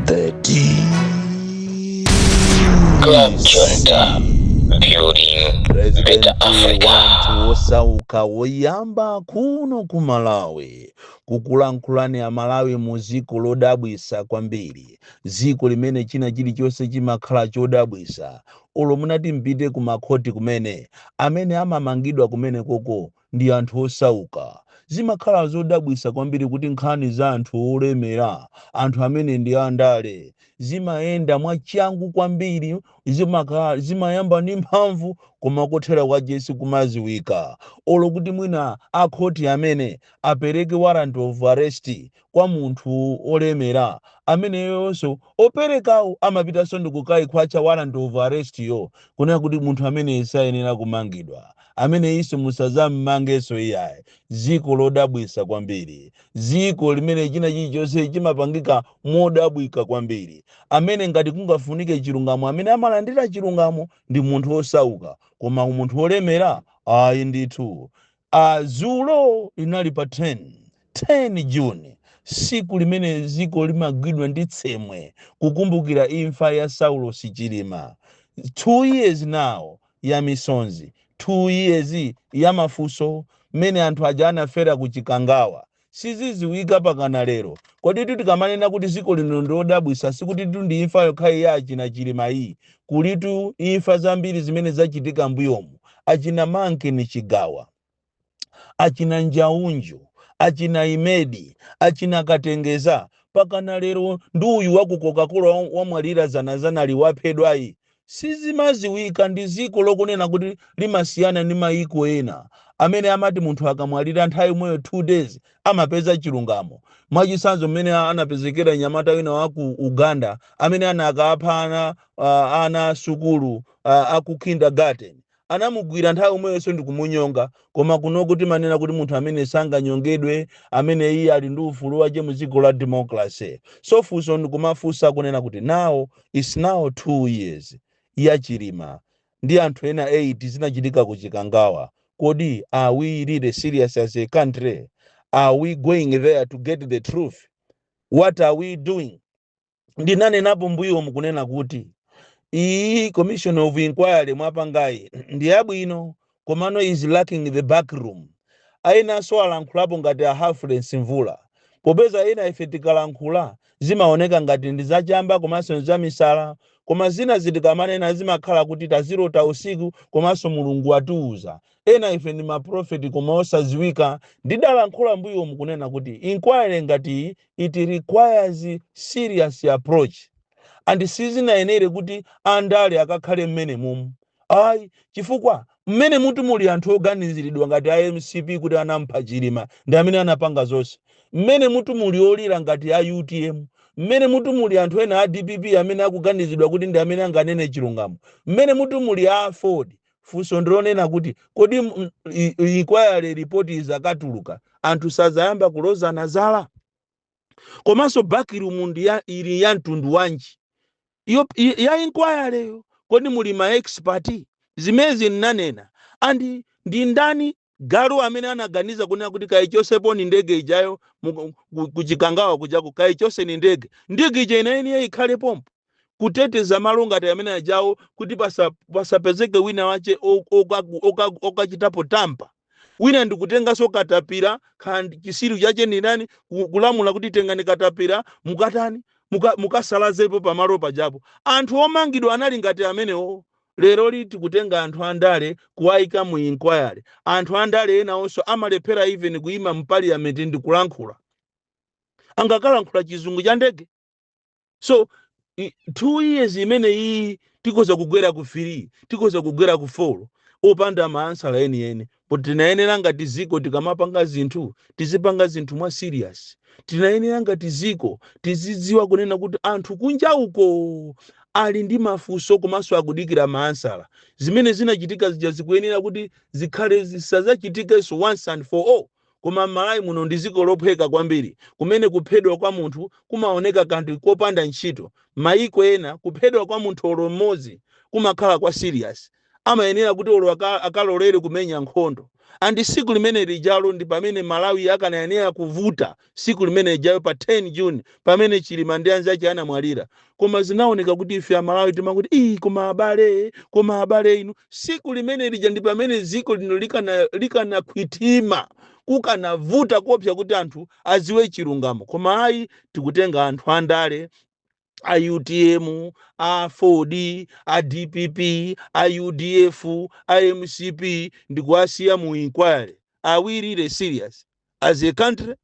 The D. Club Jointa. Building President wa anthu wosauka woyamba kuno ku Malawi kukulankhulani a Malawi mu dziko lodabwisa kwambiri dziko limene china chilichonse chimakhala chodabwisa olo munati mpite ku makhoti kumene amene amamangidwa kumenekoko ndi anthu osauka. Zimakhala zodabwisa kwambiri kuti nkhani za anthu olemera, anthu amene ndi andale, zimayenda mwachangu kwambiri, zimayamba ndi mphamvu koma kothera kwache sikumadziwika. Olo kuti mwina a khoti amene apereke warrant of arrest kwa munthu wolemera ameneyonso operekawo amapitanso ndikukaikhwatcha warrant of arrest yo kunena kuti munthu ameneyi sayenera kumangidwa ameneyinso musazammangenso iyayi dziko lodabwisa kwambiri dziko limene china chilichonse chimapangika modabwika kwambiri amene ngati kungafunike chilungamo amene amalandira chilungamo ndi munthu wosauka koma munthu wolemera ayi ndithu Aaa dzulo linali pa 10, 10 June, siku limene ziko limagwidwa ndi tsemwe kukumbukira imfa ya Saulosi Chilima, 2 years now ya misonzi, 2 years ya mafunso, mmene anthu aja anafera ku Chikangawa, Sizidziwika pakana lero. Koditu tikamanena kuti dziko lino ndi lodabwitsa sikutitu ndi imfa yokhayi ya achina Chilima iyi. Kulitu imfa zambiri zimene zachitika mbuyomu. Achina Manken Chigawa, achina Njaunju, achina Imedi, achina Katengeza, pakana lero ndi uyu wa ku Coca-Cola wamwalira dzanadzanali waphedwayi. Sizimadziwika ndi dziko lokunena kuti limasiyana ndi mayiko ena amene amati munthu akamwalira nthawi yomweyo 2 days amapeza chilungamo, mwachitsanzo mmene anapezekera mnyamata wina wa ku Uganda amene anakapha ana a ana a sukulu a ku kindergarten anamugwira nthawi yomweyonso ndikumunyonga koma kunoko timanena kuti munthu amene sanganyongedwe amene iye ali ndi ufulu wache mu dziko la democracy so funso ndikumafunsa kunena kuti now its now two years ya chilima ndi anthu ena 8 zinachitika ku chikangawa kodi are we really serious as a country are we going there to get the truth what are we doing ndinanenapo mbuyomu kunena kuti iyi commission of inquiry mwapangayi ndi yabwino komano is lacking the back room enanso alankhulapo ngati a humphreys mvula popeza ena ife tikalankhula zimaoneka ngati ndi zachamba komanso ndi zamisala koma zinazi tikamanena zimakhala kuti tazilota usiku komanso mulungu watiuza ena ife ndi maprofeti koma osadziwika ndidalankhula mbuyomu kunena kuti inquiry ngati iyi it requires serious approach and sizinayenere kuti andale akakhale mmenemumu ayi chifukwa mmenemutu muli anthu oganiziridwa ngati a mcp kuti anampha chilima ndi amene anapanga zonse mmenemutu muli olira ngati a utm mmenemutu muli anthu ena a dpp amene akuganizidwa kuti ndi amene anganene chilungamo mmenemutu muli a aford funso ndi lonena kuti kodi m- m- i- i- inquiry report izakatuluka anthu sazayamba kulozana zala komanso backroom ndi ya ili ya mtundu wanji iyo i- ya inquiry yo kodi muli ma expert zimezi nnanena and ndi ndani galu amene anaganiza kunena kuti kayichotseponi ndege ijayo mu- ku- kuchikangawa kujaku kayichotseni ndege ndege ija inayenera ikhale pompo kuteteza malo ngati amene ajawo kuti pasa- pasapezeke wina wake o- okaku- okaku- okachitapo tamper wina ndikutenganso katapira and chitsiru chake ndi ndani ku- kulamula kuti tengani katapira mukatani muka- mukasalazepo pamalo pajapo anthu omangidwa anali ngati amenewo Leroli tikutenga anthu andale kuwaika mu inquiry. Anthu andale enawonso amalephera even kuima mu parliament ndikulankhula. Angakalankhula chizungu cha ndege? So i- two years imeneyiyi tikhoza kugwera ku three tikhoza kugwera ku four opanda maansala enieni But tinayenera ngati dziko tikamapanga zinthu, tizipanga zinthu mwa serious. Tinayenera ngati dziko tizidziwa kunena kuti anthu kunja uko ali ndi mafunso komanso akudikira maansala. Zimene zinachitika zija zikuyenera kuti zikhale zisadzachitikenso once and for all. Koma m'Malawi muno ndi dziko lophweka kwambiri, kumene kuphedwa kwa munthu kumaoneka kanthu kopanda ntchito. Mayiko ena kuphedwa kwa munthu olo mmodzi kumakhala kwa serious. amayenera kuti olo aka, akalolere kumenya nkhondo and tsiku limene lijalo ndi pamene malawi akanayenera kuvuta tsiku limene lijalo pa 10 june pamene chilima ndi anzache anamwalira koma zinaoneka kuti ife amalawi timakuti ii koma abale koma abale inu tsiku limene lija ndi pamene dziko lino likana likanakhwithima kukanavuta koopsa kuti anthu adziwe chilungamo koma ayi tikutenga anthu andale a utm a aford a dpp a udf a mcp ndikuwasiya mu inquiry are we really serious as a country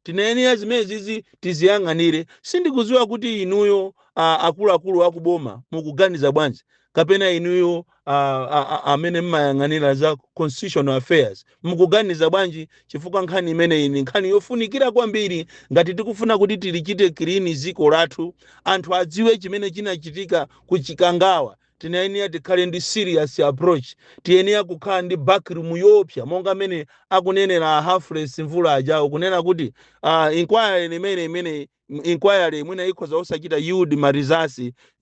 tinayenera zimenezizi tiziyang'anire sindikudziwa kuti inuyo a- akuluakulu akuboma mukuganiza bwanji kapena inuyo a- a- a- amene mmayang'anira za constitutional affairs mukuganiza bwanji chifukwa nkhani imeneyi ni nkhani yofunikira kwambiri ngati tikufuna kuti tilichite clean dziko lathu anthu adziwe chimene chinachitika ku chikangawa tinayenera tikhale ndi serious approach tiyenera kukhala ndi backroom yoopsya monga mene akunenera a Humphrey Mvula ajawo kunena kuti uh, inquiry imene imene M- inquiry imene ikhoza osachita yield ma results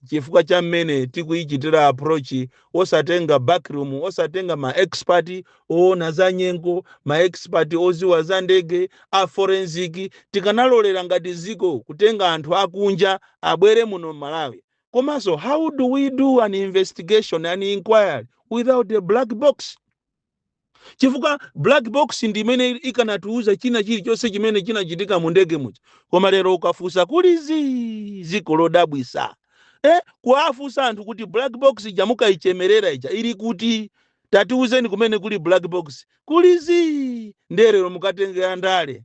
chifukwa cha mmene tikuyichitira approach osatenga backroom osatenga ma expert oona za nyengo ma expert oziwa za ndege a forensic tikanalolera ngati ziko kutenga anthu akunja abwere muno m'malawi komanso how do we do an investigation an inquiry without a black box chifukwa black box ndi imene ikanatiuza china chilichonse chimene chinachitika mu ndege muja koma lero ukafusa kuli zii ziko lodabwisa eh, kuwafusa anthu kuti black box ija mukayichemerera ija ili kuti tatiuzeni kumene kuli black box kuli zii ndiye lero mukatenge andale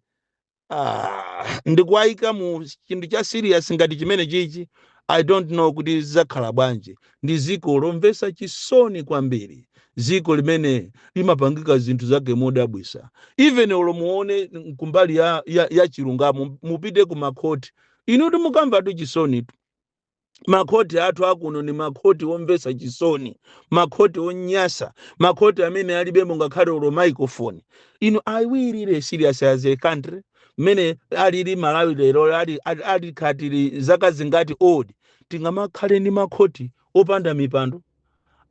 ah, ndikuwayika mu chinthu cha serious ngati chimene chichi i don't know kuti zidzakhala bwanji ndi ziko lomvesa chisoni kwambiri ziko limene limapangika zinthu zake modabwisa even olo muone kumbali ya, ya, ya chilungamo mupite ku makhoti inu timukamvatu chisoni makhoti athu akuno ni makhoti omvetsa chisoni makhoti onyasa makhoti amene alibemo ngakhale olo microphone inu are we really serious as a country mmene alili malawi lero ali ali- ali country ili zaka zingati old tingamakhale ndi makhoti opanda mipando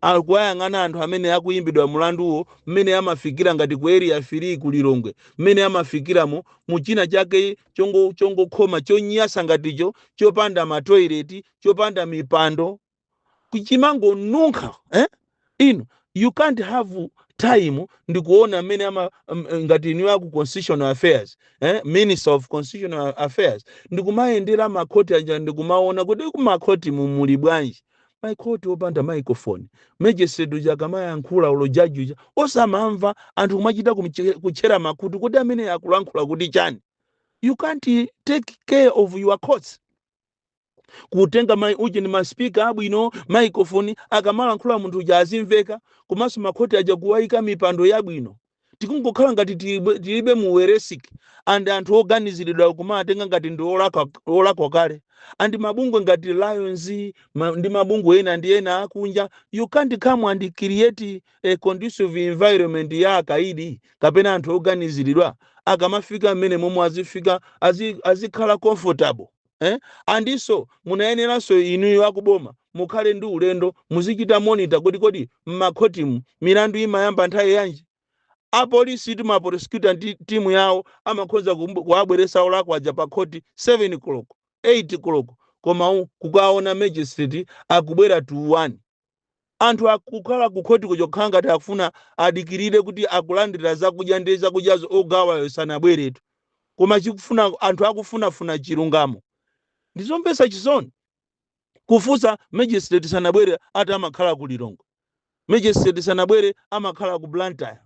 Akuwayang'ana anthu amene akuyimbidwa mlanduwo mmene amafikira ngati ku Area 3 ku Lilongwe, mmene amafikiramo mu china chake chongo, chongokhoma, chonyasa ngati icho, chopanda matoilet, chopanda mipando, chimangonunkha. Eh? Inu, you can't have time ndikuona mmene ama, m- ngati inuyo aku Constitutional Affairs, eh? Minister of Constitutional Affairs, ndikumayendera makhoti aja ndikumaona kuti kumakhoti mu muli bwanji. makhoti opanda microphone magistrate uja akamayankhula olo judge uja osamamva anthu kumachita kumche- kutchera makutu kodi amene akulankhula kuti chani you can't take care of your courts kutenga mai uji ni maspika abwino microphone akamalankhula munthu uja azimveka komanso makhoti aja kuwayika mipando yabwino tikungokhala ngati tilibe tilibe mu 21st and anthu oganiziridwa kumawatenga ngati ndi olakwa olakwa kale and mabungwe ngati lions ma, ndi mabungwe ena ndi ena akunja you can't come and create a conducive environment ya akaidi kapena anthu oganiziridwa akamafika mmene momwe azifika azi- azikhala comfortable eh? andinso munayeneranso inuyo akuboma mukhale ndi ulendo muzichita monitor kodi kodi mmakhotimu milandu imayamba nthawi yanji apolisi tu maprosecutor timu yawo amakhoza kumbu- kuwabweresa olakwa aja pa khoti 7 koloko 8 koloko koma u- kukaona magistrate akubwera to 1 anthu akukhala kukhotiko chongokhala ngati akufuna adikirire kuti akulandira zakudya ndi zakudyazo ogawayo sanabweretu koma chikufuna anthu akufunafuna chilungamo ndizomvetsa chisoni kufunsa magistrate sanabwere ati amakhala ku lilongwe magistrate sanabwere amakhala ku blantyre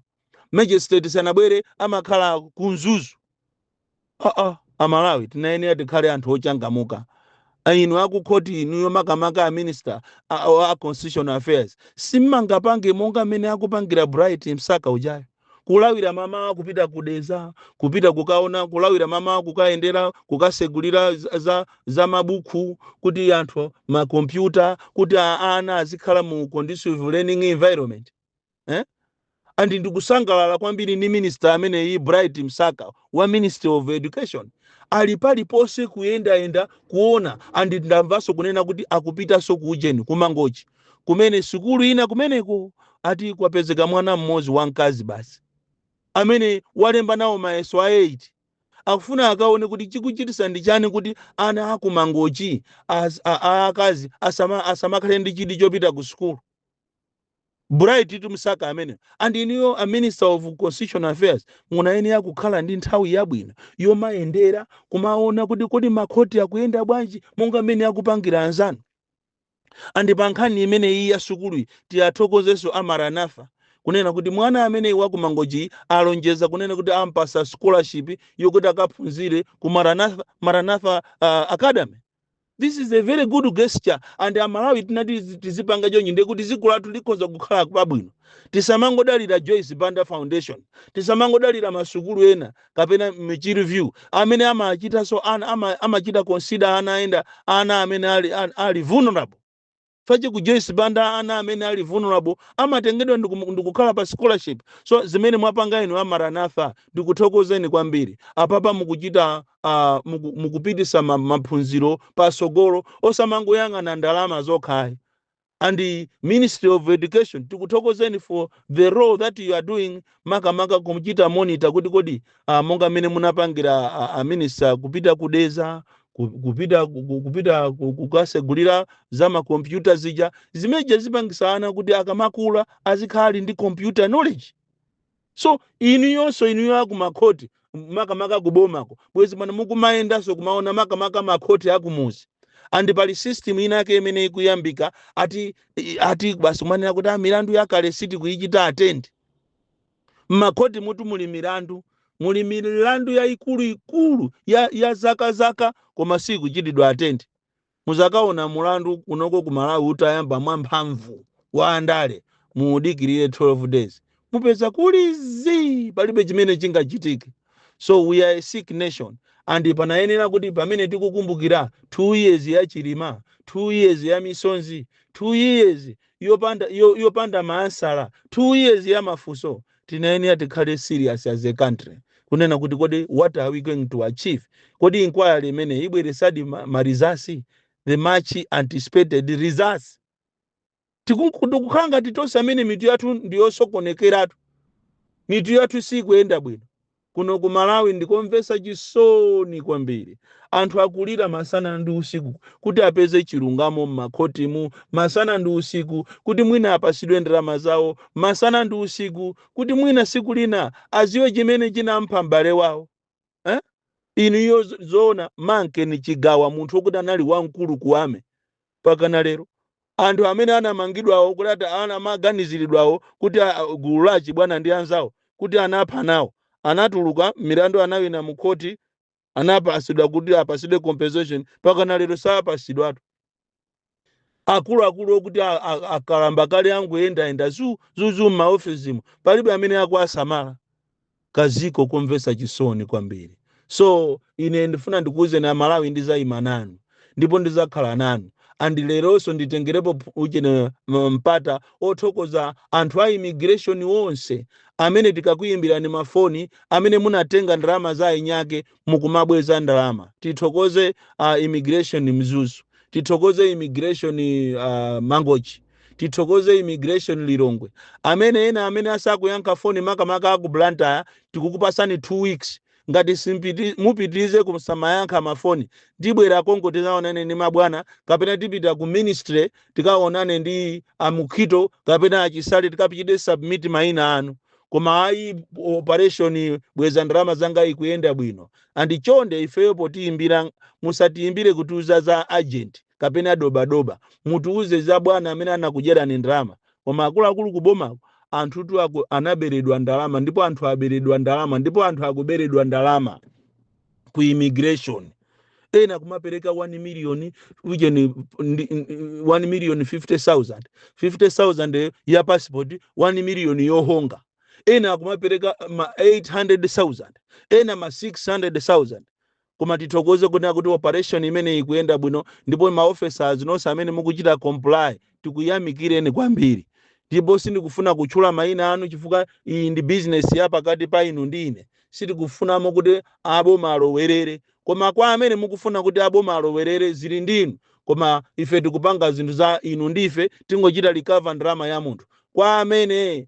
magistrate sanabwere amakhala ku mzuzu aa amalawi tinayenera tikhale anthu ochangamuka inu akukhoti inuyo makamaka a minister a, a, a constitutional affairs simmangapange monga mmene akupangira bright msaka ujayo kulawira mamawa kupita ku dedza kupita kukaona kulawira mamawa kukayendera kukasegulira za, za za mabuku kuti anthu makompyuta kuti a- ana azikhala mu conducive learning environment eh? and ndikusangalala kwambiri ndi minister ameneyi bright msaka wa ministry of education ali paliponse kuyendayenda kuona and ndamvanso kunena kuti akupitanso ku ujeni ku mangochi kumene sukulu ina kumeneko ati kwapezeka mwana mmodzi wamkazi basi amene walemba nawo mayeso a 8 akufuna akaone kuti chikuchitisa ndi chani kuti ana akumangochi as- a- a- akazi asama- asamakhale ndi chidi chopita ku sukulu bright msaka ameneyi and inuyo a minister of constitutional affairs munayenera kukhala ndi nthawi yabwino yomayendera kumaona kuti kodi makhoti akuyenda bwanji monga mmene akupangira anzanu andi pa nkhani imene iyi ya sukuluyi tiwathokozenso a maranatha kunena kuti mwana ameneyi wakumangochiyi alonjeza kunena kuti ampasa scholarship yokuti akaphunzire ku maranatha, maranatha uh, academy This is a very good gesture and amalawi tinati tizi- tizipanga chonchi ndiye kuti dziko lathu likhoza kukhala pabwino tisamangodalira joyce banda foundation tisamangodalira masukulu ena kapena michiru view amene amachitanso ana ama- amachita consider ana ena ana amene ali, ali, ali vulnerable fache ku joyce banda ana amene ali vulnerable amatengedwa ndikum- ndikukhala pa scholarship so zimene mwapanga inu a maranatha ndikuthokozeni kwambiri apapa mukuchita uh, muku, mukupitisa ma- maphunziro pasogolo osamangoyang'ana ndalama zokhayi and the ministry of education tikuthokozeni for the role that you are doing makamaka kuchita monitor kuti kodi ah, monga mmene munapangira ah, a minister kupita ku dedza ku- kupita ku- ku- kupita ku- kukasegulira za makompyuta zija zimeneja zipangisa ana kuti akamakula azikhala ali ndi computer knowledge so inuyonso inuyo akumakhoti makamaka kubomako bwezi pano mukumayendanso kumaona makamaka makhoti akumuzi andi pali system inake imene ikuyambika ati i- ati basi kumanena kuti "Ah, milandu yakale sitikuichita atendi m'makhoti mutu muli milandu muli milandu yaikuluikulu ya, ya zaka zaka koma sikuchitidwa atendi muzakaona mulandu unoko ku malawi utayamba mwamphamvu wa andale muudikirire 12 days mupeza kuli zii palibe chimene chingachitike so we are a sick nation and panayenera kuti pamene tikukumbukira 2 years ya chilima 2 years ya misonzi 2 years yopanda yo- yopanda maansala two years ya mafunso tinayenera tikhale serious as a country kunena kuti kodi what are we going to achieve kodi inquiry imene ibweresadi ma, ma results the much anticipated results tikukhala ngati tonse amene mitu yathu ndiyosokonekeratu mitu yathu sikuyenda bwino Kuno ku Malawi ndikomvetsa chisoni kwambiri. Anthu akulira masana ndi usiku kuti apeze chilungamo m'makhotimu masana ndi usiku kuti mwina apatsidwe ndalama zawo masana ndi usiku kuti mwina tsiku lina adziwe chimene chinampha m'bale wawo. Eh? Inu iyo zoona Manken Chigawa munthu wokuti anali wamkulu ku army mpakana lero. Anthu amene anamangidwawo kuti ata- ana- amaganiziridwawo kuti a- a- gulu la achibwana ndi anzawo kuti anapha nawo anatuluka milandu anawina mu khoti anapatsidwa kuti apatsidwe compensation mpakana lero sapatsidwatu. Akuluakulu okuti a- a- akalamba kale angoyendayenda zu zu zu m'maofesimu palibe amene akuwasamala. kaziko komvetsa chisoni kwambiri so ine ndifuna ndikuwuzeni amalawi ndizayima nanu ndipo ndizakhala nanu and leronso nditengerepo ph- uchene m- mpata othokoza anthu a immigration wonse amene tikakuyimbirani mafoni amene munatenga ndalama za ainiyake mukumabweza ndalama tithokoze uh, immigration mzuzu tithokoze immigration uh, mangochi tithokoze immigration lilongwe amene ena amene asakuyankha foni makamaka aku blantyre tikukupasani 2 weeks ngati simpiti- mupitirize kusamayankha mafoni tibwera konko tizaonane ndi mabwana kapena tipita ku ministry tikaonane ndi amukhito kapena achisale tikachite submit maina anu koma ayi operation bweza ndalama zanga ikuyenda bwino andi chonde ifeyo potiyimbira musatiyimbire kutiuza za agent kapena dobadoba mutiuze za bwana amene anakudyerani ndalama koma akuluakulu kubomako anthutu anaberedwa ndalama ndipo anthu aberedwa ndalama ndipo anthu akuberedwa ndalama ku immigration ena akumapereka 1 million ujeni ndi- ndi- 1 million 50000 50000 ya passport 1 million yohonga ena akumapereka ma 800000 ena ma 600000 Koma tithokoze kunena kuti operation imeneyi ikuyenda bwino ndipo ma officers nonse amene mukuchita comply tikuyamikireni kwambiri. Ndipo sindikufuna kutchula mayina anu chifukwa iyi ndi business ya pakati pa inu ndi ine. Sitikufunamo kuti a boma alowerere. Koma kwa amene mukufuna kuti a boma alowerere zili ndi inu koma ife tikupanga zinthu za inu ndi ife tingochita recover ndalama ya munthu. Kwa amene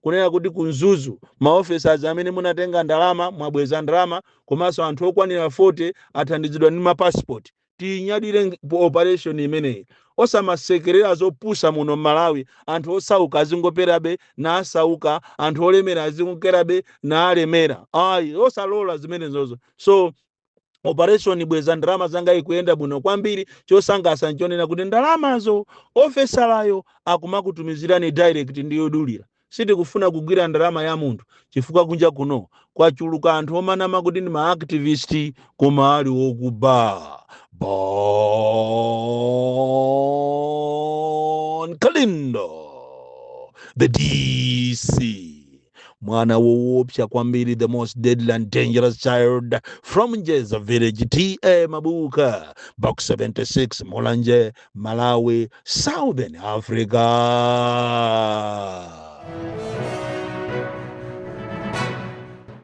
kunena kuti ku mzuzu ma officers amene munatenga ndalama mwabweza ndalama komanso anthu okwanira 40 athandizidwa ndi ma passport tiyinyadire operation imeneyi osamasekerera zopusa muno mmalawi anthu osauka azingokerabe naasauka anthu olemera azingokerabe naalemera ayi osalola zimenezozo so operation bweza ndalama zangayi ikuyenda bwino kwambiri chosangalatsa nchonena kuti ndalamazo ofesalayo akumakutumizirani direct ndi yodulira sitikufuna kugwira ndalama ya munthu chifukwa kunja kuno kwachuluka anthu omanama kuti ndi maactivist koma ali okuba bon kalindo the dc mwana woopsa kwambiri the most deadly and dangerous child from njeza village ta mabuka box 76 mulanje malawi southern africa